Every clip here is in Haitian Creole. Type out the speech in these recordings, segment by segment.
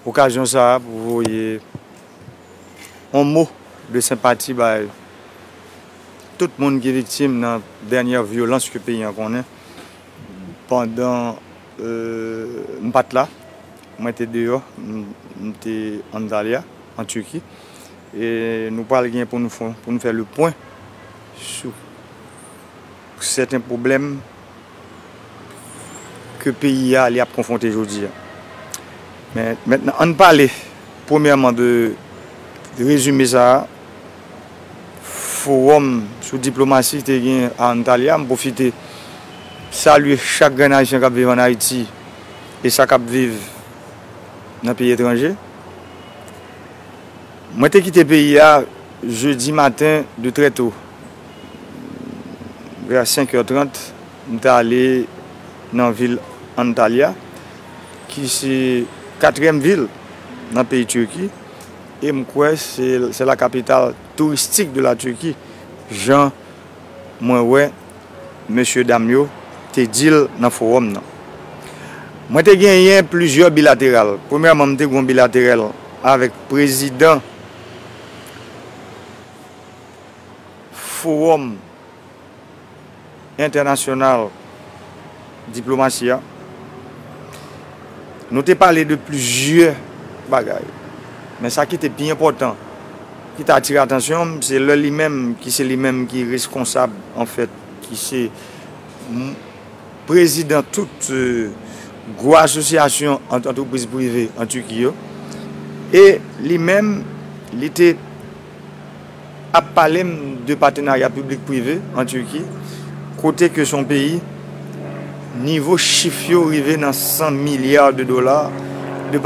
Okazyon sa a pou voye yon mo de senpati bay tout moun ki viktim nan dènyè vyolans ke peyi an konnen. Pandan m pa t la, mwen te deyò, m te Antalya, an Turki, e nou pral gen pou nou fè le pwen sou. Pou sèten pwoblèm ke peyi a li ap konfwonte jodi a. Men, mentnan ann pale premyèman de rezime sa a fowòm sou diplomasi te gen a Antalya. M pwofite salye chak grenn Ayisyen k ap viv ann Ayiti e sa k ap viv nan peyi etranje. Mwen te kite peyi a jedi maten de trè to. Vè 5 è 30, m t ale nan vil Antalya, ki se katriyèm vil nan peyi Tirki, e m kwè se la kapital touristik de la Tirki, jan mwen wè mesye dam yo te di l nan fowòm nan. Mwen te genyen plizyè bilateral. Premyèman, m te gen yon bilaterèl avèk prezidan. Fowòm entènasyonal diplomasi a, nou te pale de plizyè bagay, men sa ki te pi enpòtan, ki te atire atansyon m, se lè li menm, ki se li menm ki reskonsab an fèt, ki se prezidan tout gwo asosyasyon antrepriz prive an Turquie yo, e li menm, li te. ap pale m de patenarya piblik prive an Turki kote ke son peyi nivo chif yo rive nan 100 milya de dola de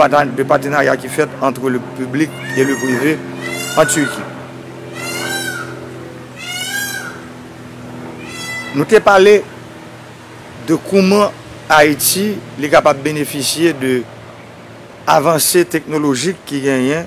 patenarya ki fèt antre le piblik e le prive an Turki. Nou te pale de kouman Ayiti li kapab benefisye de avanse teknolojik ki genyen.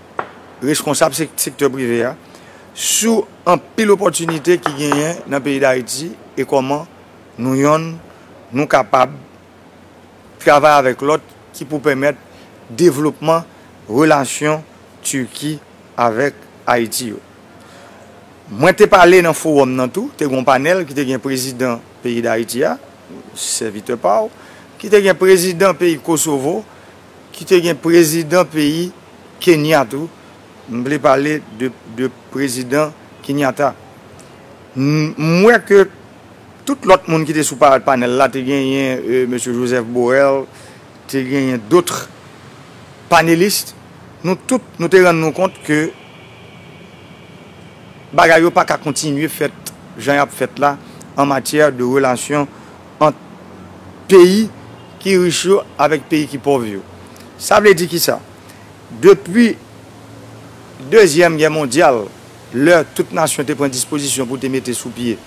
reskonsab sektè prive a sou anpil opòtinite ki genyen nan peyi Dayiti e kòman nou yonn nou kapab travay avèk lòt ki pou pèmèt devlopman relasyon Turki avèk Ayiti yo. Mwen te pale nan fowòm nan tou, te gen yon panèl ki te gen prezidan peyi Dayiti a, sèvitè pa w, ki te gen prezidan peyi Kosovo, Ki te gen prezidan peyi Kenya tou, m vle pale de prezidan Kenyatta. M wè ke tout lòt moun ki te sou panèl la, te genyen Mesye Joseph Borrell, te genyen dotre panelistes, nou tout nou te rann nou kont ke bagay yo pa ka kontinye fèt jan y ap fèt la an matyè de relasyon. ant peyi ki rich yo avèk peyi ki pòv yo. Sa vle di ki sa? Depi Dezyèm Gè Mondyal, lè tout nasyon te pran dispozisyon pou te mete sou pye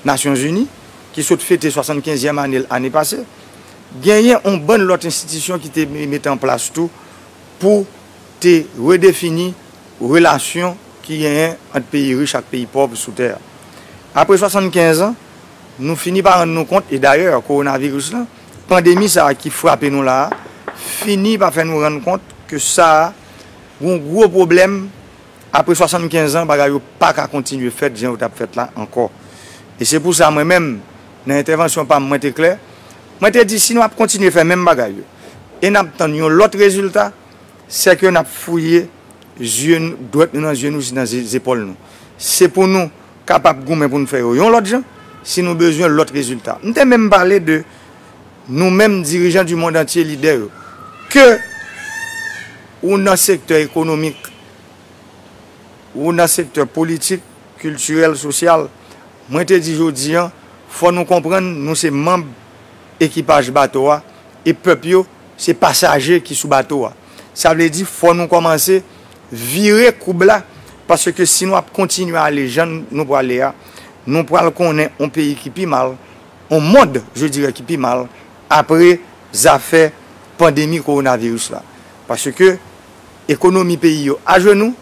Nasyon Zini, ki sot fete swasantkenzyèm ane l ane pase, genyen yon bann lòt enstitisyon ki te mete an plas tou pou te redefini relasyon ki genyen ant peyi rich ak peyi pòv sou tè a. Apre swasantkenz an, Nou fini pa rann nou kont, e dayè kowonaviris lan, pandemi sa a ki frape nou la a, fini pa fè nou rann kont ke sa a gon gwo pwoblèm, apre 75 an bagay yo pa ka kontinye fèt jan yo t ap fèt la ankò. E se pou sa mwen menm, nan entèvansyon pa m mwen te klè, mwen te di si nou ap kontinye fè menm bagay yo, e n ap tann yon lòt rezilta, sè ke n ap fouye zye, dwèt nou nan zye nou jis nan zepòl nou. Se pou nou kapab goumen pou n fè yo yon lòt jan, si nou bezwen lòt rezilta. M te menm pale de nou menm dirijan di mond antye, lidè yo, ke ou nan sektè ekonomik, ou nan sektè politik, kiltirèl, sosyal, mwen te di jodi an, fò nou konprann nou se manb ekipaj bato a, e pèp yo se pasaje ki sou bato a. Sa vle di fò nou kòmanse. Vire koub la, paske si nou ap kontinye ale jan nou prale a, nou pral konnen on peyi ki pi mal, on mond je dirais ki pi mal, apre zafè pandemi kowonaviris la. Paske ekonomi peyi yo ajenou,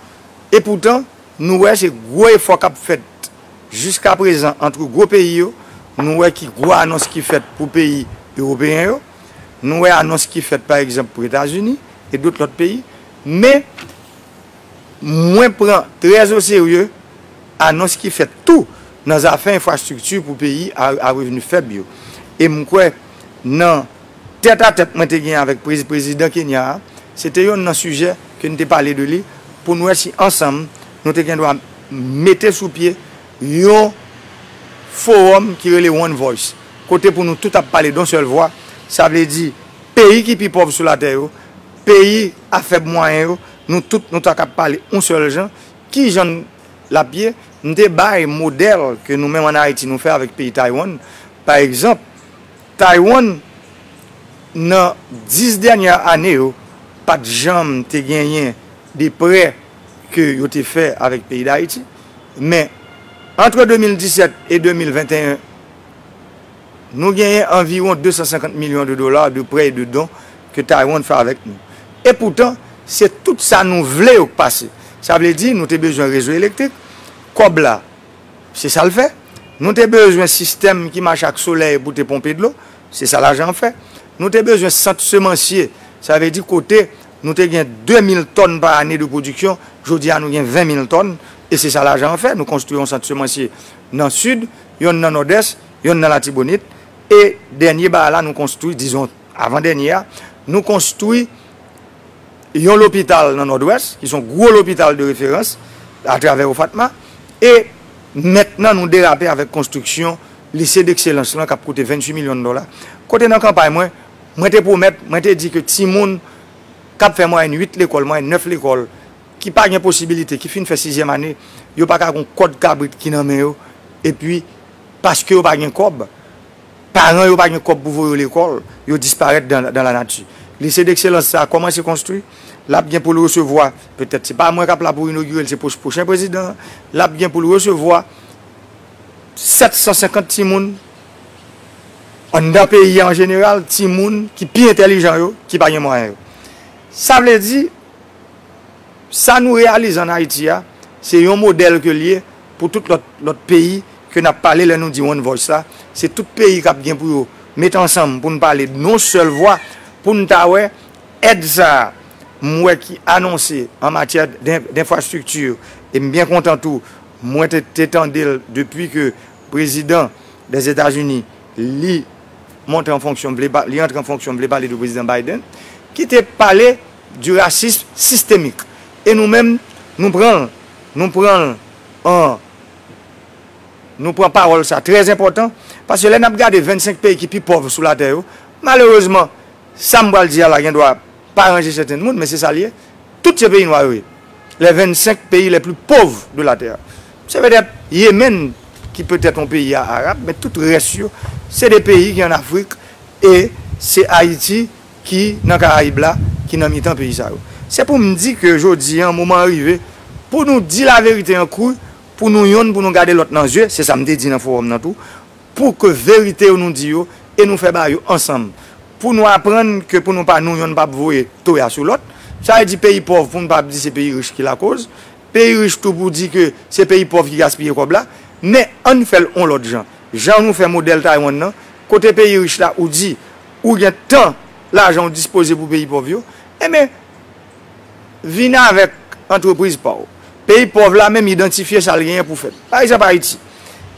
e poutan nou wè se gwo efò k ap fèt jiska prezan antre gwo peyi yo, nou wè ki gwo anons ki fèt pou peyi ewopeyen yo, nou wè anons ki fèt pa egzanp pou Etazini e dot lòt peyi. Men, mwen pran trè o serye anons ki fèt tou nan zafè enfrastrikti pou peyi a revni fèb yo. E m kwè nan tèt a tèt mwen te gen avèk prezidan Kenya a, se te yonn nan sijè ke n te pale de li pou n wè si ansanm nou te gen dwa mete sou pye yon fowòm ki rele One Voice, kote pou nou tout ap pale don sèl vwa, sa vle di peyi ki pi pòv sou latè yo, Peyi a fèb mwayen yo, nou tout nou ta kab pale yon sèl jan, ki jan l ap ye? M te bay modèl ke nou menm an Ayiti nou fè avèk peyi Taiwan. Pa egzanp, Taiwan nan 10 dènyè ane yo pa t janm te genyen de prè ke yo te fè avèk peyi Dayiti, men antre 2017 e 2021, Nou genyen anviwon 250 milyon de dola de prè e de don ke Taiwan fè avèk nou. E poutan, se tout sa nou vle yo k pase. Sa vle di, nou te bezwen rezo elektrik, kòb la, se sa l fè. Nou te bezwen sistèm ki mache ak solèy pou te ponpe dlo, se sa lajan an fè. Nou te bezwen sant semansye, sa vle di kote nou te gen 2 mil tòn pa ane de pwodiksyon, jodi a nou gen 20 mil tòn, e se sa lajan an fè. Nou konstwi yon sant semansye nan Sid, yonn nan Nòdès. Yon nan Latibonit. E dènye baay la nou konstwi, dizon avan dènye a, nou konstwi yon lopital nan Nòdwès, ki son gwo lopital de referans atravè OFATMA. E mentnan nou derape avèk konstriksyon Lise dekselans lan k ap koute 28 milyon dola. Kote nan kanpay mwen, mwen te pwomèt, mwen te di ke timoun k ap fè mwayèn 8 lekòl, mwayèn 9 lekòl, ki pa gen posibilite, ki fin fè sizyèm ane, yo pa ka gen yon kòd kabrit ki nan men yo, epi. Paske yo pa gen kòb, paran yo pa gen kòb pou voye yo lekòl, yo disparèt dan la nati. Lycée d'excellence sa a kòmanse konstwi, l ap gen pou l resevwa, petèt se pa mwen k ap la pou inogire l, se pwochen prezidan an, l ap gen pou l resevwa 750 timoun anndan peyi a an jeneral, timoun ki pi entèlijan yo, ki pa gen mwayen yo. Sa vle di, sa nou reyalize an Ayiti a, se yon modèl ke l ye, Pou tout lòt lòt peyi ke n ap pale lè nou di one voice la, se tout peyi k ap gen pou yo met ansanm pou n pale dnon sèl vwa pou n ta wè èd sa a m wè ki anonse an matyè denfrastrikti e m byen kontan tou mwen te te tande l depi ke prezidan dèzetazini li monte an fonksyon vle li antre an fonksyon vle pale de prezidan Biden ki te pale Du racisme systémique e nou menm nou pran l nou pran l an nou pran pawòl sa trè enpòtan paske lè n ap gade 25 peyi ki pi pòv sou latè yo malerezman sa m pral di a la gen dwa pa ranje sèten moun men se sa l ye tout se peyi nwa yo ye les 25 pays les plus pauvres de la terre se petèt Yemen ki petèt yon peyi a arab men tout rès yo se de peyi ki an Afrik e se Ayiti ki nan Karayib la, ki nan mitan peyi sa yo. Se pou m di ke jodi an, moman an rive pou nou di laverite an kru, pou nou yonn pou nou gade lòt nan zye, se sa m te di nan fowòm nan tou, pou ke verite yo nou di yo e nou fè bagay yo ansanm, pou nou aprann ke pou nou pa nou yonn pa p voye toya sou lòt. Sa vle di peyi pòv pou nou pa p di se peyi rich ki lakoz, peyi rich tou pou di ke se peyi pòv ki gaspiye kòb la. Men, ann fè l on lòt jan. Jan nou fè modèl Taiwan nan, kote peyi rich la ou di Ou gen tan, lajan ou dispoze pou peyi pòv yo, enben, vin avèk antrepriz pa ou. Peyi pòv la menm idantifye sa l genyen pou fè. Pa egzanp Ayiti.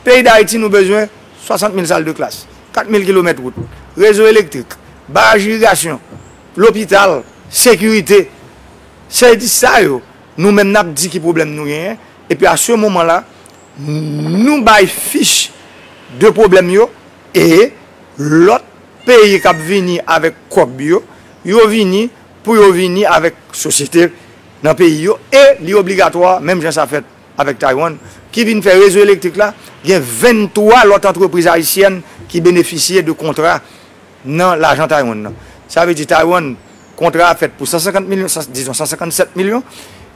Peyi Dayiti nou bezwen 60 mil sal de klas, 4 mil kilomèt wout, rezo elektrik, baraj irigasyon, lopital, sekirite. Se di sa yo nou menm n ap di ki pwoblèm nou genyen, epi a se moman la, nou bay fich de pwoblèm yo E lòt peyi kap vini avèk kòb yo, yo vini pou yo vini avèk sosyete nan peyi yo e li obligatwa menm jan sa fèt avèk Taiwan ki vin fè rezo elektrik la, gen 23 lòt antrepriz ayisyèn ki benefisye de kontra nan lajan Taiwan nan. Sa vle di Taiwan kontra a fèt pou 150 milyon, dizon 157 milyon,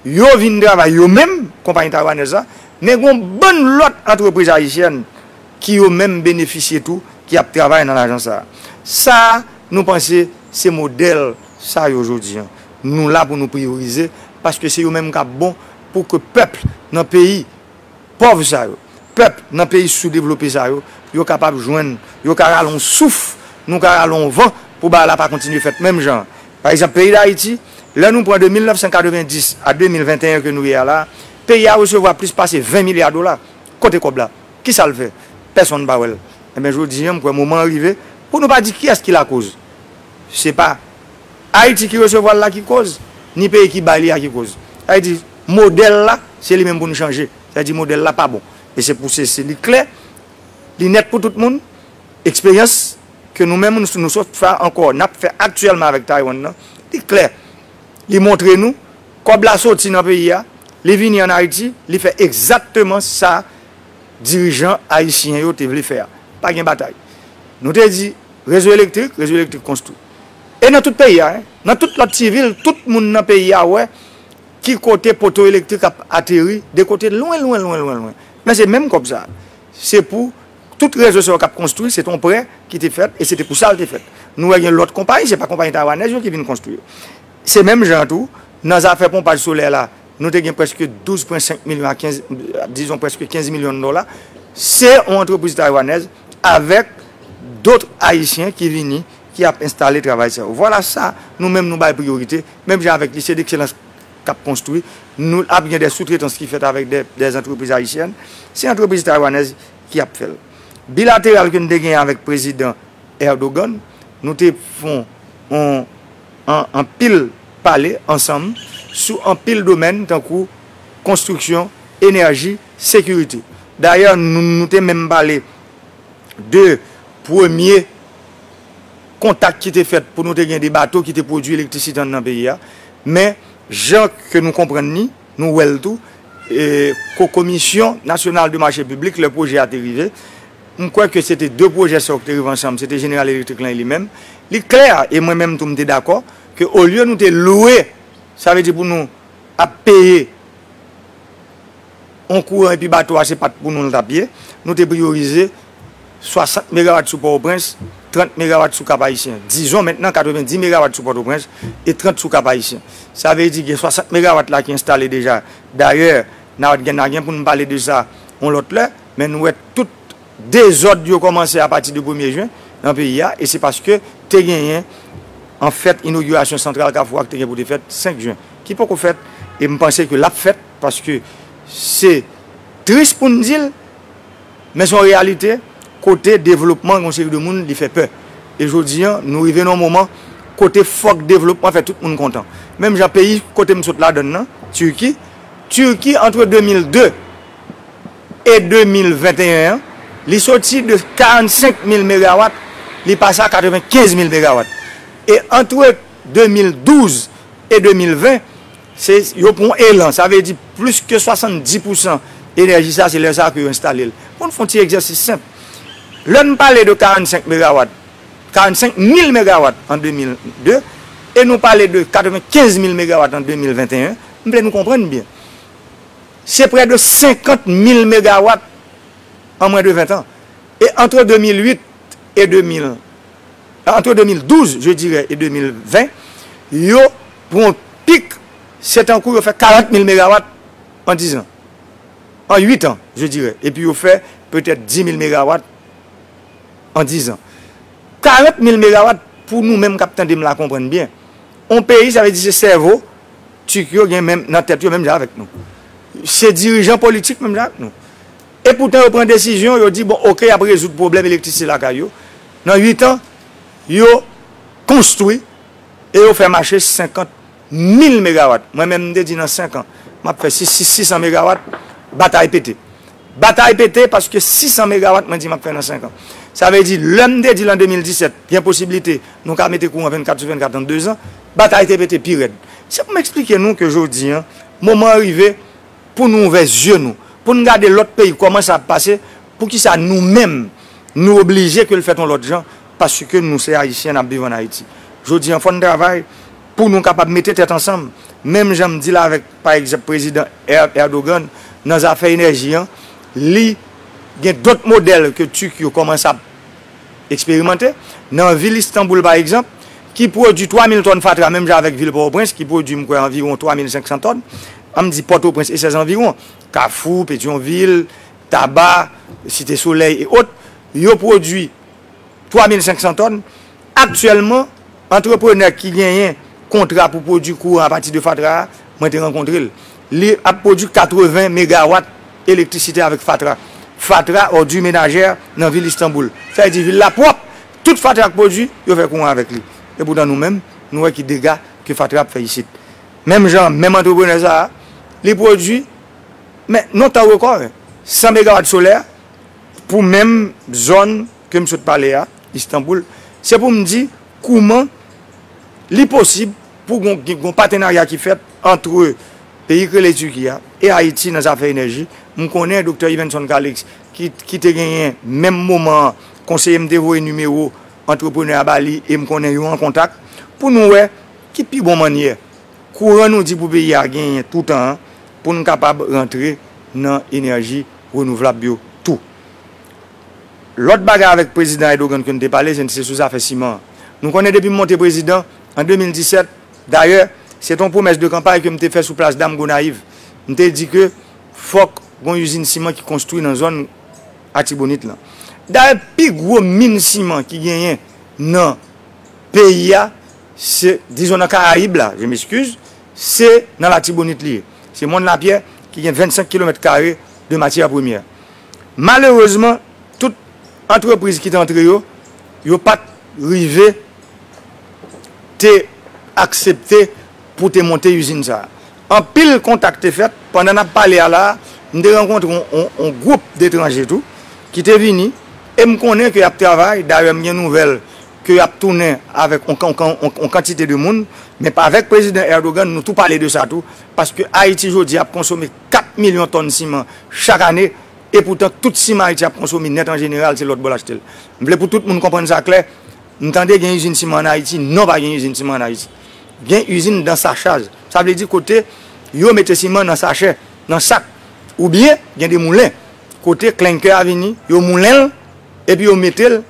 yo vin travay yo menm, konpayi taiwanèz la, men gon bann lòt antrepriz ayisyèn ki yo menm benefisye tou ki ap travay nan lajan sa a. Sa a nou panse se modèl sa yo jodi an nou la pou nou priyorize paske se yo menm k ap bon pou ke pèp nan peyi pòv sa yo, pèp nan peyi soudevlope sa yo, yo kapab jwenn, yo ka rale yon souf, nou ka rale yon van pou bagay la pa kontinye fèt menm jan an. Pa egzanp peyi Dayiti, lè nou pran de 1990 a 2021 ke nou ye a la a, peyi a resevwa plis pase 20 milya dola. Kote kòb la? Kisa l fè? Pèsonn pa wè l. Enben jodi an m kwè moman an rive pou nou pa di kiyès ki lakoz. Se pa Ayiti ki resevwa l la ki koz, ni peyi ki bay li a ki koz. Sa vle di modèl la se li menm pou nou chanje. Sa vle di modèl la pa bon. E se pou se se li klè, li nèt pou tout moun, eksperyans ke nou menm nou sot fè ankò, n ap fè aktyèlman avèk Taiwan nan, li klè. Li montre nou kòb la soti nan peyi a, li vini ann Ayiti, li fè egzakteman sa. dirijan ayisyen yo te vle fè a. Pa gen batay. Nou te di, rezo elektrik, rezo elektrik konstwi. E nan tout peyi a, nan tout lòt ti vil, tout moun nan peyi a wè ki kote poto elektrik ap ateri, de kote lwen, lwen, lwen, lwen, lwen. Men se menm kòb sa a. Se pou tout rezo sa yo k ap konstwi, se te yon prè ki te fèt e se te pou sa l te fèt. Nou wè gen lòt konpayi, se pa konpayi taywanèz yo ki vin konstwi yo. Se menm jan an tou, nan zafè ponpaj solè la, nou te gen preske 12,5 milyon a 15, dizon preske 15 milyon dola, se yon antrepriz taywanèz avèk dotre ayisyen ki vini, ki ap enstale travay sa yo. Vwala sa nou menm nou bay priyorite, menm jan avèk Lise Dekselans k ap konstwi, nou ap gen de soutretans ki fèt avèk de antrepriz ayisyèn, se antrepriz taywanèz ki ap fè l. Bilateral ke nou te genyen avèk Prezidan Erdogan, nou te fon yon. an anpil pale ansanm sou anpil domèn tankou konstriksyon, enèji, sekirite. Dayè nou te menm pale de premye kontak ki te fèt pou nou te gen de bato ki te pwodui elektrisite anndan peyi a. Men jan ke nou konprann ni. Nou wè l tou, ko komisyon nasyonal de mache piblik lè pwojè a te rive. M kwè ke se te 2 pwojè sa yo ki te rive ansanm, se te Jeneral Elektrik lan e li menm. Li klè, e mwen menm tou m te dakò, ke olye nou te lwe, sa vle di pou nou ap peye yon kouran epi bato a se pa t pou nou l t ap ye, nou te priyorize 60 megawat sou Pòtoprens, 30 megawat sou Kap Ayisyen. Dizon mentnan 90 megawat sou Pòtoprens e 30 sou Kap Ayisyen. Sa vle di gen 60 megawat la ki enstale deja. Dayè, na gen na gen pou nou pale de sa yon lòt lè, men nou wè tout dezòd yo kòmanse apati de premye jen nan peyi a e se paske te genyen an fèt inogirasyon santral Kafou a ki te gen pou te fèt 5 jen ki poko fèt e m panse ke l ap fèt paske se tris pou n di l. Men son reyalite kote devlopman yon seri de moun li fè pè. E jodi an nou rive nan yon moman kote fòk devlopman fè tout moun kontan. Menm jan peyi kote m sot ladann nan, Turki, Turki antre 2002 e 2021 an li soti de 45 mil megawat li pase a 95 mil megawat. E antre 2012 e 2020 Se yo pran yon elan, sa vle di plis ke 70 pousan enèji sa se lè sa ke yo enstale l. Pou n fè yon ti egzèsis senp, lè n pale de 45 megawat, 45 mil megawat an 2002, e nou pale de 95 mil megawat an 2021, m vle nou konprann byen, se prè de 50 mil megawat an mwen de 20 tan. E antre 2008 e 2000. Antre 2012, je dirè, e 2020, yo pou yon pik, se tankou yo fè 40 mil megawat an dizan. An uitan, je dirè, epi yo fè petèt 10 mil megawat an dizan. 40 mil megawat, pou nou menm k ap tande m la konprann byen, yon peyi, sa vle di se sèvo Tik yo gen menm nan tèt yo menm jan avèk nou. Se dirijan politik menm jan ak nou. E poutan yo pran desizyon, yo di bon ok y ap rezoud pwoblèm elektrisite lakay yo, nan 8 an yo konstwi e yo fè mache 50 mil megawat, mwen menm m te di nan 5 an m ap fè 600 megawat, batay pete. Batay pete paske 600 megawat mwen di m ap fè nan 5 an. Sa vle di lè m te di l an 2017 gen posiblite nou ka mete kouran 24 sou 24 an 2 zan, batay te pete pi rèd. Se pou m eksplike nou ke jodi an moman an rive, pou nou ouvè zye nou, pou n gade lòt peyi kòman sa ap pase, poukisa nou menm nou oblije ke l fèt yon lòt jan paske nou se Ayisyen n ap viv ann Ayiti. Jodi an fò n travay pou nou kapab mete tèt ansanm, menm jan m di l avèk pa egzanp prezidan Erdogan nan zafè enèji an, li gen dòt modèl ke Turk yo kòmanse ap. eksperimante. Nan vil Istanboul pa egzanp, ki pwodui 3 mil tòn fatra menm jan avèk vil Pòtoprens ki pwodui m kwè anviwon 3 mil 500 tòn, an m di Pòtoprens e sèzanviwon, Kafou, Petyonvil, Taba, Site Solèy e ot, yo pwodui 3 mil 500 tòn, aktyèlman antreprenè ki genyen kontra pou pwodui kouran apati de fatra a, mwen te rankontre l. Li ap pwodui 80 megawat elektrisite avèk fatra. Fatra, òdi menajè, nan vil Istanboul. Sa vle di vil la pwòp! Tout fatra k pwodui, yo fè kouran avèk li. Epoutan nou menm, nou wè ki dega ke fatra ap fè isit. Menm jan an, menm antreprenè sa a, li pwodui, men non tan rekò, 100 megawat solè pou menm zòn ke m sot pale a, Istanboul. Se pou m di kouman li posib Pou gon patenarya ki fèt antre peyi k rele Tiki a e Ayiti nan zafè enèji. M konnen Doktè Yvenson Calix ki te genyen menm moman an konseye m te voye nimewo antreprenè a ba li e m konnen yo an kontak pou nou wè ki pi bon mannyè kouran nou di pou peyi a genyen toutan an pou n kapab rantre nan enèji renouvlab yo tou. Lòt bagay avèk Prezidan Erdogan ke n te pale se sou zafè siman an. Nou konnen depi m monte prezidan An 2017, dayè, se te yon pwomès de kanpay ke m te fè sou Plas Dam Gonayiv. M te di ke fòk gen yon izin siman ki konstwi nan zòn Atibonit lan. Dayè, pi gwo min siman ki genyen nan peyi a, se, dizon nan Karayib la, je m'excuse, se nan Latibonit li ye. Se Mòn Lapyè ki gen 25 kilomèt kare de matyè premyè. Malerezman, tout antrepriz ki te antre yo, yo pa t rive te aksepte pou te monte izin sa a. Anpil kontak te fèt. Pandan n ap pale a la a, m te rankontre yon gwoup detranje tou ki te vini e m konnen ke y ap travay. Dayè, m gen nouvèl ke y ap tounen avèk yon kantite de moun. Men avèk Prezidan Erdogan, nou tou pale de sa tou, paske Ayiti jodi ap konsome 4 milyon tòn siman chak ane, epoutan tout siman Ayiti ap konsome nèt an jeneral se lòtbò l achte l. M vle pou tout moun konprann sa klè, M tande gen izin siman an Ayiti, non pa gen izin siman an Ayiti. Gen izin dan sachaj, sa vle di kote yo mete siman nan sachè, nan sak. Ou byen gen de moulen kote klenkè a vini, yo moulen l epi yo mete l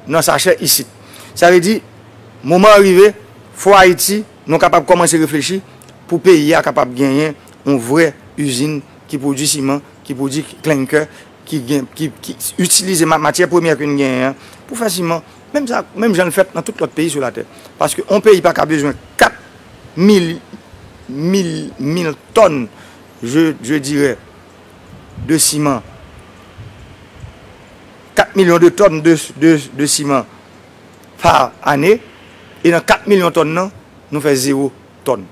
nan sachè isit. Sa vle di moman an rive fò Ayiti nou kapab kòmanse reflechi pou peyi a kapab genyen yon vrè izin ki pwodui siman, ki pwodui klenkè ki gen, ki itilize matyè premyè ke n genyen an pou fè siman, menm sa, menm jan l fèt nan tout lòt peyi sou latè. Paske yon peyi pa ka bezwen 4 mil, mil, mil tòn, je, je dirè, de siman, 4 milyon de tòn de, de, de siman pa ane, e nan 4 milyon tòn nan, nou fè zewo tòn.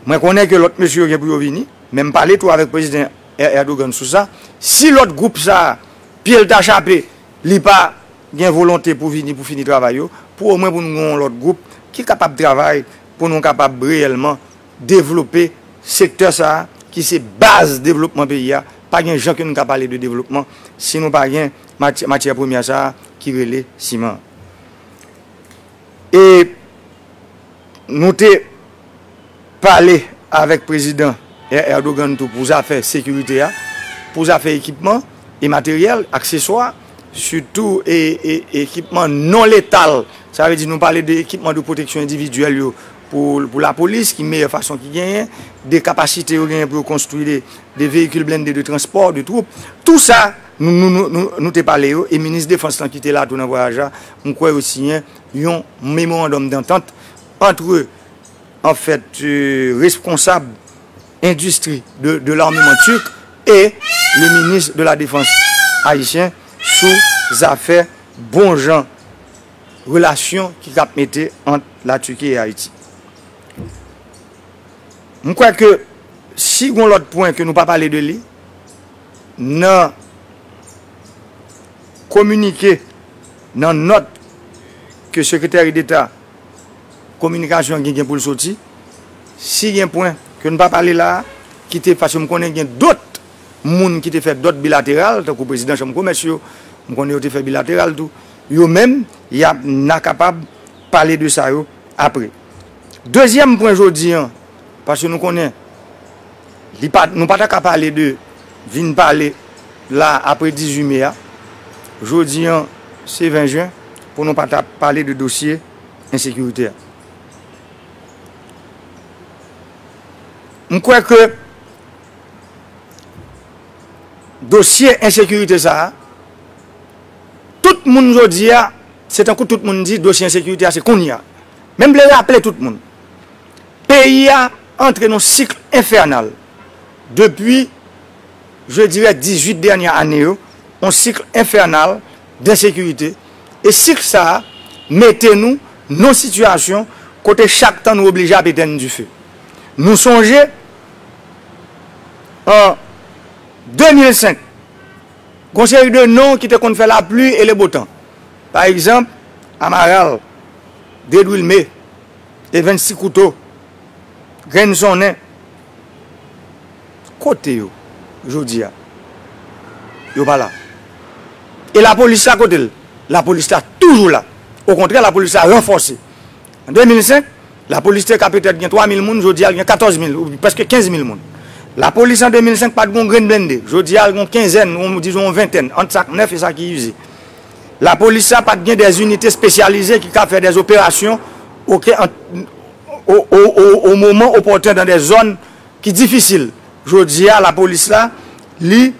Mwen konnen ke lòt mesye yo gen pou yo vini, men m pale tou avèk Prezidan. Erdogan sou sa, si lòt gwoup sa a pye l ta chape, li pa gen volonte pou vini pou fini travay yo, pou omwen pou nou gen yon lòt gwoup ki kapab travay pou nou kapab reyèlman devlope sektè sa a ki se baz devlopman peyi a, pa gen jan ke nou ka pale de devlopman si nou pa gen matyè premyè sa a ki rele siman an. E. Nou te pale avèk Prezidan Erdogan tou pou zafè sekirite a, pou zafè ekipman e materyèl, akseswa, sitou ekipman non letal. Sa vle di nou pale de ekipman de pwoteksyon endividyèl yo pou lapolis ki meyè fason ki genyen, de kapasite yo genyen pou yo konstwi de veyikil blende de transpò de twoup. Tou sa nou te pale yo e Minis Defans lan ki te la tou nan vwayaj la, m kwè yo siyen yon memorandum d'entente antre en fèt responsab endistri de l'armement turc e le minis de la defans ayisyen sou zafè bon jan relasyon ki tap mete ant la Turquie et Haïti. M kwè ke si gon lòt pwen ke nou pa pale de li nan kominike. Nan nòt ke Sekreteri Deta Kominikasyon gen gen pou l soti, si gen pwen ke n pa pale la a, ki te, paske m konnen gen dòt moun ki te fè dòt bilateral, tankou Prezidan Chanm Komès yo, m konnen yo te fè bilateral tou, yo menm, y ap, n a kapab pale de sa yo apre. Dezyèm pwen jodi an. Paske nou konnen, nou pa ta ka pale de vin pale la apre 18 me a, jodi an se 20 jen, pou nou pa ta pale de dosye ensekirite a. M kwè ke dosye ensekirite sa a, tout moun jodi a, se tankou tout moun di dosye ensekirite a se kounye a. Men m vle raple tout moun. Peyi a antre nan cycle infernal depi je dirais 18 dernière année yo, yon cycle infernal d'insécurité e cycle sa a mete nou nan situation kote chak tan nou oblije ap etèn dife. Nou sonje an 2005 gon seri de non ki te konn fè la pluie et le beau temps pa egzanp Amaral, Dedwilme, E 26 kouto, grenn sonnen. Kote yo jodi a? Yo pa la. E lapolis la kote l? Lapolis la toujou la. Okontrè lapolis la ranfòse. An 2005, lapolis te ka petèt gen 3 mil moun, jodi a l gen 14 mil, prèske 15 mil moun. Lapolis an 2005 pa t gen yon grenn blende, jodi a l gen yon kenzèn, dizon yon ventèn, ant sa k nèf e sa ki ize. Lapolis la pa t gen dè inite spesyalize ki ka fè dè operasyon o moman opòten dan dè zòn ki difisil. Jodi a lapolis la li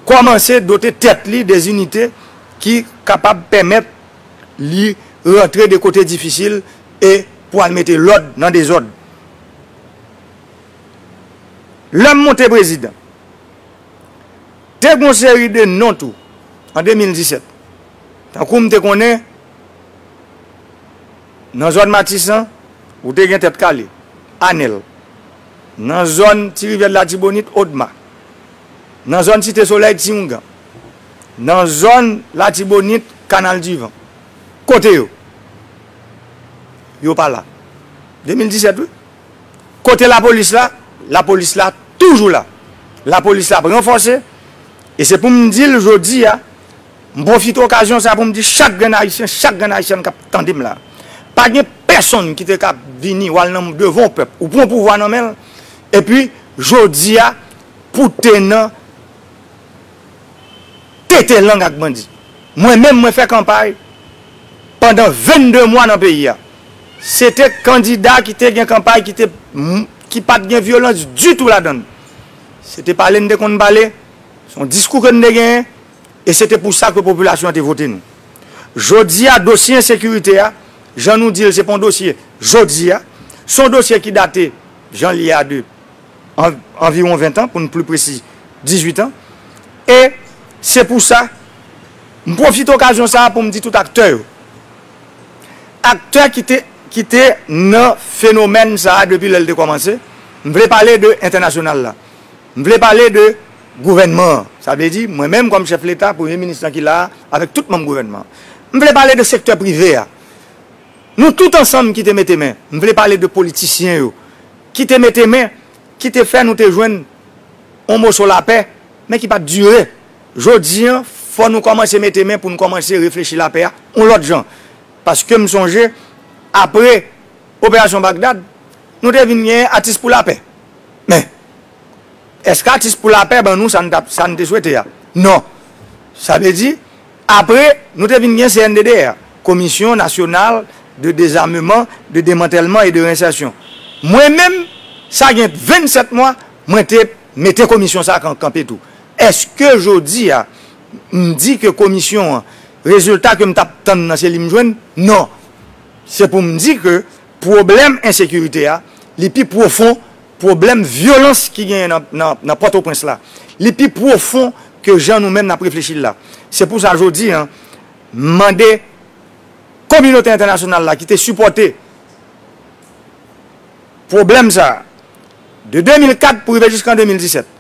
kòmanse dote tèt li de inite ki kapab pèmèt li rantre de kote difisil e pou al mete lòd nan dezòd. Lè m monte prezidan. Te gon seri de non tou an 2017. Tankou m te konnen nan zòn Matisan ou te gen Tèt Kale, Anèl. Nan zòn Ti Rivyè de Latibonit, Odma. Nan zòn Site Solèy, Tiyoungan. Nan zòn Latibonit, Kanal di Van. Kote yo? Yo pa la. 2017 wi. Kote lapolis la? Lapolis la toujou la. Lapolis la ap ranfòse. E se pou m di l jodi a, m pwofite okazyon sa a pou m di chak grenn Ayisyen, chak grenn Ayisyèn k ap tande m la a, pa gen pèsonn ki te ka vini ou al nan devan yon pèp, ou pran pouvwa nan men l, epi jodi a pou w te nan tete lang ak bandi. Mwen menm mwen fè kanpay pandan 22 mwa nan peyi a. Se te kandida ki te gen kanpay ki te ki pa t gen vyolans ditou ladan l. Se te pale n te konn pale, se yon diskou ke n te genyen e se te pou sa ke popilasyon an te vote nou. Jodi a dosye ensekirite a, jan nou di l se pa yon dosye jodi a, se yon dosye ki date jan l ye a de anviwon ventan pou n pli presi dizuitan e se pou sa m pwofite okazyon sa a pou m di tout aktè yo, aktè ki te ki te nan fenomèn sa a depi lè l te kòmanse, m vle pale de entènasyonal la, m vle pale de gouvènman an, sa vle di mwen menm kòm chèf leta, premye minis lan ki la a avèk tout manm gouvènman an, m vle pale de sektè prive a, nou tout ansanm ki te mete men, m vle pale de politisyen yo ki te mete men, ki te fè nou te jwenn yon moso lapè men ki pa t dire. Jodi an, fò nou kòmanse mete men pou n kòmanse reflechi lapè a yon lòt jan. Paske m sonje, apre Operasyon Bagdad, nou te vin gen Atis pou Lapè. Men, èske Atis pou Lapè ban nou sa n te swete a? Non. Sa vle di, apre, nou te vin gen CNDDR, Commission Nationale de Désarmement, de Démantèlement et de Réinsertion. Mwen menm, sa gen 27 mwa, mwen te mete komisyon sa a kanpe tou. Eske jodi a, m di ke komisyon an, rezilta ke m t ap tann nan se li m jwenn? Non! Se pou m di ke pwoblèm ensekirite a, li pi pwofon pwoblèm vyolans ki genyen nan Pòtoprens la. Li pi pwofon ke jan nou menm n ap reflechi l la. Se pou sa jodi a, m mande kominote entènasyonal la ki te sipòte pwoblèm sa a, de 2004 pou rive jiska 2017,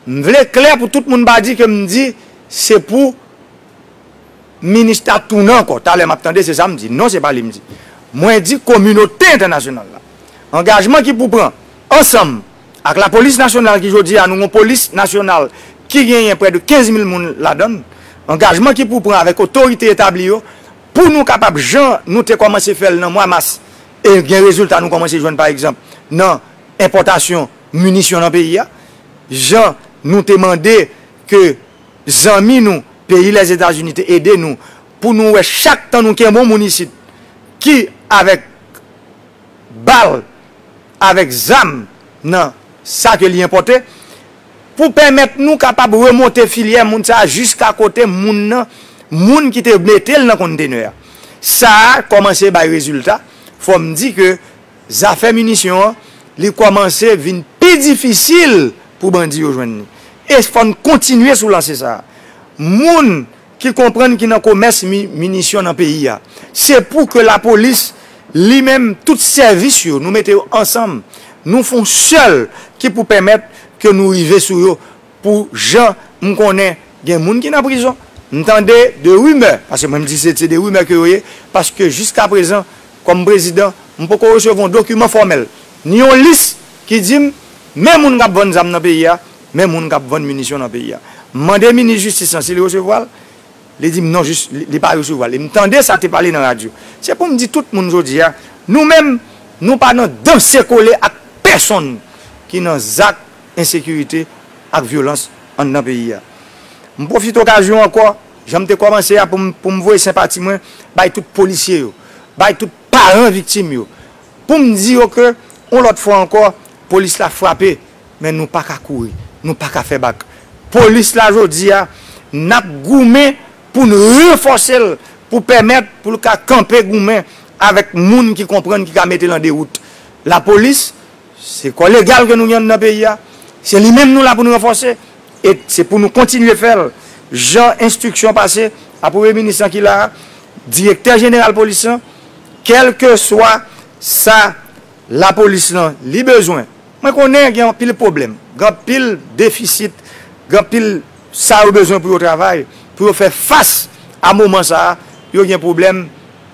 M vle klè pou tout moun pa di ke m di se pou Minustah tounen ankò. Talè m ap tande se sa m di. Non se pa li m di. Mwen di kominote entènasyonal la. Angajman ki pou pran ansanm ak lapolis nasyonal ki jodi a nou gon polis nasyonal ki genyen prè de 15 mil moun ladan l. Angajman ki pou pran avèk otorite etabli yo pou nou kapab jan nou te kòmanse fè l nan mwa mas e gen rezilta nou kòmanse jwenn pa egzanp nan enpòtasyon munisyon nan peyi a, jan nou te mande ke zanmi nou peyi Lèzetazini te ede nou pou nou wè chak tan nou kenbon moun isit ki avèk bal, avèk zam nan sa ke li enpòte, pou pèmèt nou kapab remonte filyè moun sa a jiska kote moun nan, moun ki te mete l nan kontenè a. Sa a kòmanse bay rezilta, fò m di ke. Zafè minisyon an, li kòmanse vin pi difisil pou bandi yo jwenn li. E fò n kontinye sou lanse sa a. Moun ki konprann ki nan komès minisyon nan peyi a, se pou ke lapolis li menm, tout sèvis yo, nou mete yo ansanm, nou fon sèl ki pou pèmèt ke nou rive sou yo. Pou jan m konnen gen moun ki nan prizon, m tande de rimè, paske mwen m di se de rimè ke yo ye, paske jiskaprezan kòm prezidan m poko resevwa yon dokiman fòmèl, ni yon lis ki di m men moun k ap vann zam nan peyi a, men moun k ap vann minisyon nan peyi a. M mande minis jistis lan si li resevwa l, li di m non jis li pa resevwa l. E m tande sa te pale nan radyo. Se pou m di tout moun jodi a, nou menm nou pa nan danse kole ak pèsonn ki nan zak ensekirite ak vyolans anndan peyi a. M pwofite okazyon ankò, jan m te kòmanse a, pou m voye senpati mwen bay tout polisye yo, bay tout paran viktim yo, pou m di yo ke yon lòt fwa ankò, polis la frape, men nou pa ka kouri, nou pa ka fè bak. Polis la jodi a, n ap goumen pou n ranfòse l, pou pèmèt pou l ka kanpe goumen avèk moun ki konprann, ki ka mete l an dewout. Lapolis. Se kò legal ke nou gen anndan peyi a, se li menm nou la pou nou ranfòse, e se pou nou kontinye fè l, jan enstriksyon pase a Premye Minis lan ki la a, Direktè Jeneral Polis lan, kèlkeswa sa Lapolis lan li bezwen. Mwen konnen gen anpil pwoblèm, gen anpil defisit, gen anpil sa yo bezwen pou yo travay, pou yo fè fas a moman sa a, yo gen pwoblèm,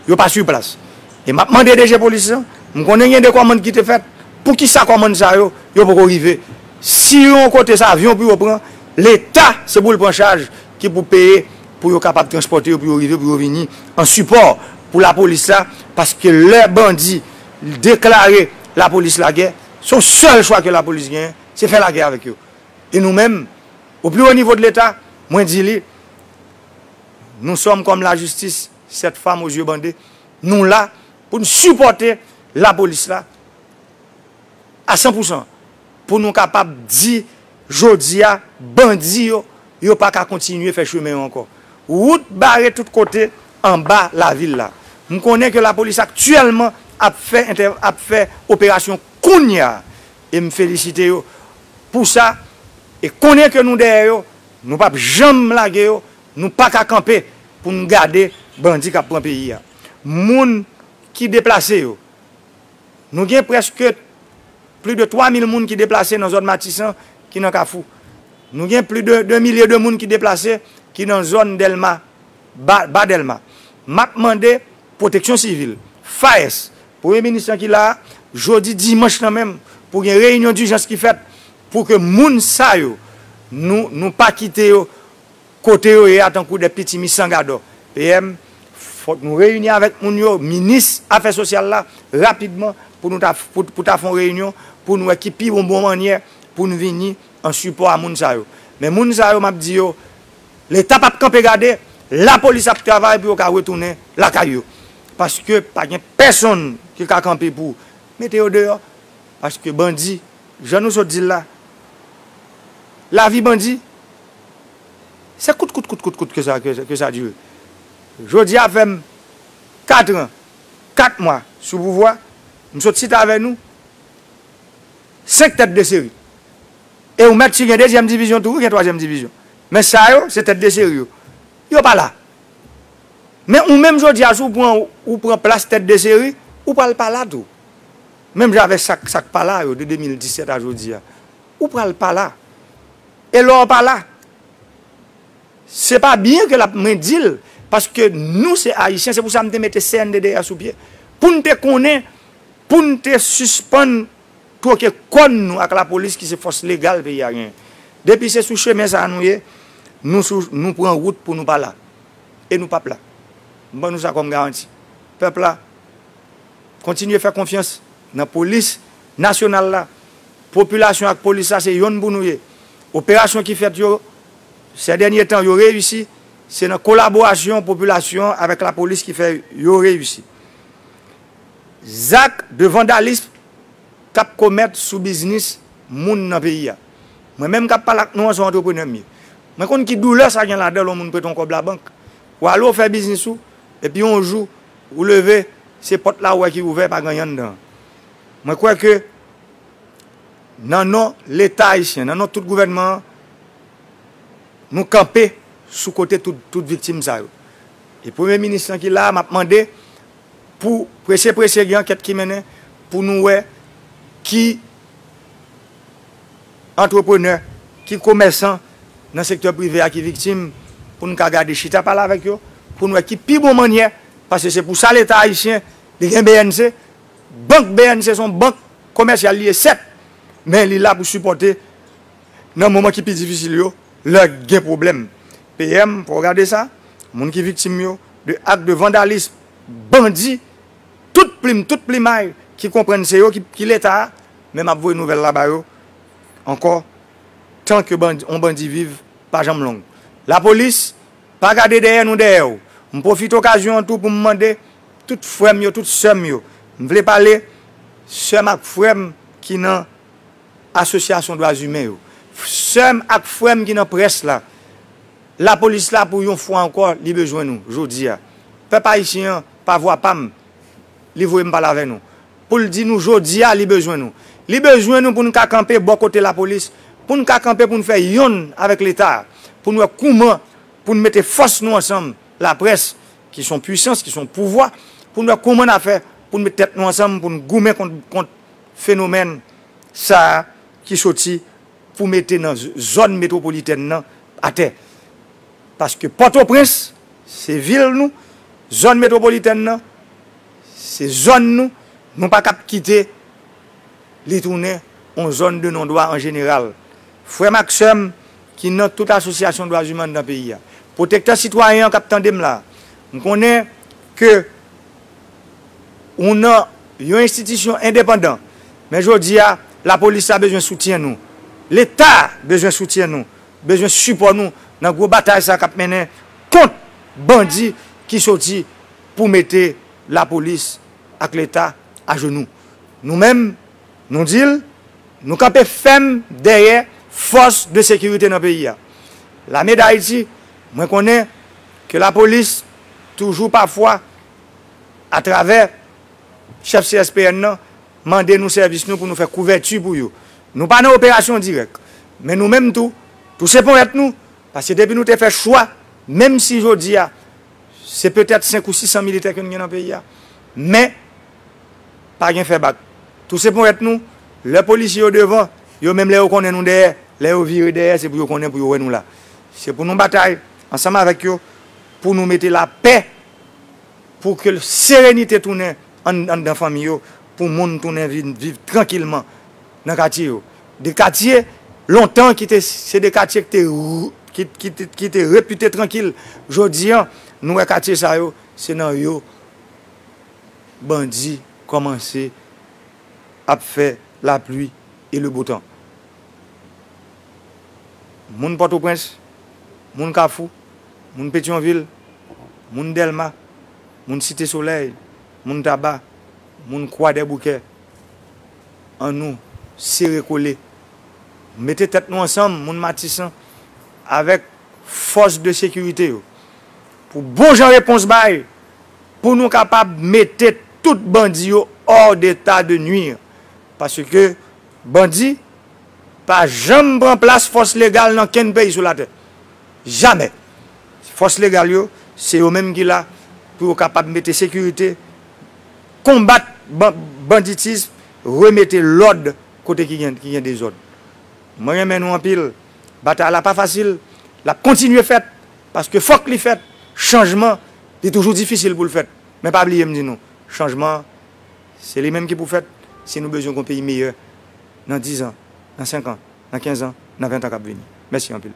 yo pa su plas. E map mande DG polis lan, m konnen gen de kòmand ki te fèt, poukisa kòmand sa yo, yo poko rive? Si yon kote se avyon pou yo pran, leta se pou l pran chaj ki pou peye pou yo kapab transpòte yo pou yo rive pou yo vini an sipò pou lapolis la paske lè bandi deklare lapolis lagè se yon sèl chwa ke lapolis genyen se fè lagè avèk yo e nou menm o pli wo nivo de leta mwen di li nou sòm kòm lajistis. Cette femme aux yeux bandé nou la pou n sipòte la polis la a san pou san pou nou kapab di jodi a bandi yo yo pa ka kontinye fè chemen yo ankò wout bare tout kote anba lavil la m konnen ke la polis aktyèlman ap fè ap fè operasyon kounya e m felisite yo pou sa e konnen ke nou dèyè yo nou pap janm lage yo Nou paka kanpe pou nou gade bandi kap pran peyi a. Moun ki deplase yo, nou gen preske pli de 3 mil moun ki deplase nan zòn Matisan ki nan Kafou. Nou gen pli de 2 milye de moun ki deplase ki nan zòn Delma, Ba Delma. Map mande pwoteksyon sivil, FAES, premye minis lan ki la a, jodi dimanch lan menm pou gen reyinyon dijans ki fèt pou ke moun sa yo nou pa kite yo. Kote yo ye a tankou de piti mi san gadò. PM, Fòk nou reyini avèk moun yo, minis afè sosyal la, rapidman pou nou ta pou ta fè yon reyinyon pou n wè ki pi bon bon mannyè pou n vini an sipò a moun sa yo. Men moun sa yo m ap di yo Leta p ap kanpe gade, lapolis ap travay pou yo ka retounen lakay yo. Paske pa gen pèsonn ki ka kanpe pou mete yo deyò. Paske bandi, jan nou sot di l la, lavi bandi Se kout kout kout kout kout ke sa ke sa dire. Jodi a fèm 4 ans 4 mwa sou pouvwa, m sot sit avè nou 5 tèt de seri. E ou mèt si gen dezyèm divizyon tou wi gen twazyèm divizyon. Men sa yo se tèt de seri yo. Yo pa la. Men ou menm jodi a si w pran ou pran plas tèt de seri, ou pral pa la tou. Menm jan avè sak sak pa la yo de 2017 a jodi a. Ou pral pa la. E lè w pa la, se pa byen ke l ap mwen di l, paske nou se Ayisyen, se pou sa m te mete CNDDR sou pye, pou n te konnen, pou n te sispann twoke kòn nou ak lapolis ki se fòs legal peyi a genyen. Depi se sou chemen sa a nou ye, nou pran wout pou nou pa la. E nou p ap la. M ban nou sa kòm garanti. Pèp la. Kontinye fè konfyans nan polis nasyonal la. Popilasyon ak polis la se yonn pou nou ye. Operasyon ki fèt yo sè dènye tan yo reyisi, se nan kolaborasyon popilasyon avèk lapolis ki fè yo reyisi. Zak de vandalism k ap komèt sou biznis moun nan peyi a. Mwen menm k ap pale ak nou an se yon antreprenè m ye. Mwen konn ki doulè sa gen ladan l yon moun prete yon kòb labank, w ale w fè biznis ou epi yon jou, Ou leve, se pòt la ou wè ki ouvè, pa gen anyen anndan. Mwen kwè ke nan non Leta ayisyen, nan non tout gouvènman an, nou kanpe sou kote tout viktim sa yo. E Premye Minis lan ki la a, m ap mande pou prese prese gen ankèt ki mennen pou nou wè ki. antreprenè, ki komèsan nan sektè prive a ki viktim pou n ka gade chita pale avèk yo pou n wè ki pi bon mannyè paske se pou sa leta ayisyen li gen bnc bank bnc son bank komèsyal li ye sèt men li la pou sipòte nan moman ki pi difisil yo lè gen pwoblèm PM fò w gade sa moun ki viktim yo de ak de vandalism bandi tout plim tout plimay ki konprann se yo ki leta a. men map voye nouvel la ba yo anko tan ke yon bandi viv pa janm long la polis pa gade dèyè nou dèyè yo m profite okazyon an tou pou m mande tout frèm yo tout sèm yo m vle pale sèm ak frèm ki nan asosyasyon dwa zimen yo sèm ak frèm ki nan près la la polis la pou yon fwa anko li bezwen nou jodia pèp ayisyen an pa vwa pam li voye m pale avè nou. Pou l di nou jodi a li bezwen nou. Li bezwen nou pou n ka kanpe bò kote lapolis, pou n ka kanpe pou n fè yonn avèk leta a, pou n wè kouman pou n mete fòs nou ansanm, laprès ki son pwisans, ki son pouvwa, pou n wè kouman n a fè pou n met tèt nou ansanm pou n goumen kont fenomèn sa a ki soti pou mete nan zòn metwopolitèn nan atè. Paske Pòtoprens se vil nou, zòn metwopolitèn nan. Se zòn nou, nou pa kab kite li tounen yon zòn de nondwa an jeneral. Frè m ak sè m ki nan tout asosyasyon dwaziman nan peyi a, pwotektè sitwayen an k ap tande m la a, m konnen ke ou nan yon enstitisyon endepandan, men jodi a, lapolis la bezwen soutyen nou, Leta bezwen soutyen nou, bezwen sipò nou nan gwo batay sa a k ap mennen kont bandi ki soti. pou mete lapolis ak leta ajenou. Nou menm, nou di l, nou kanpe fèm dèyè fòs de sekirite nan peyi a. Lame Dayiti, mwen konnen ke lapolis toujou pafwa atravè chèf CSPN nan mande nou sèvis nou pou nou fè kouvèti pou yo. Nou pa nan operasyon dirèk, men nou menm tou, touse ponyèt nou Paske depi nou te fè chwa, menm si jodi a, se petèt 5 ou 600 militè ke nou gen nan peyi a, men, pa gen fè bak. Touse ponyèt nou, lè polisye yo devan, yo menm lè yo konnen nou dèyè, lè yo vire dèyè, se pou yo konnen pou yo wè nou la. Se pou nou batay, ansanm avèk yo, pou nou mete lapè, pou ke serenite tounen anndan fanmi yo, pou moun tounen vin viv trankilman. nan katye yo. De katye lontan ki te se de katye ki te repite trankil jodi an nou wè katye sa yo se nan yo bandi kòmanse ap fè lapli e le bo tan. Moun Pòtoprens, moun Kafou, moun Petyonvil, moun Dèlma, moun Site Solèy, moun Taba, moun Kwadèboukè. An nou sere kole, mete tèt nou ansanm moun Matisan avèk fòs de sekirite yo pou bon jan repons bay pou nou kapab mete tout bandi yo hors d'état de nuire paske bandi pa janm pran plas fòs legal nan kenn peyi sou latè jamè fòs legal yo se yo menm ki la pou yo kapab mete sekirite konbat banditism, remete lòd kote ki gen dezòd. Mwen renmen nou anpil. Batay la pa fasil, l ap kontinye fèt, paske fòk li fèt. Chanjman, li toujou difisil pou l fèt. Men pa bliye m di nou, chanjman an, se li menm ki pou fèt, si nou bezwen gen yon peyi meyè nan dizan, nan senkan, nan kenzan, nan ventan k ap vini. Mèsi anpil.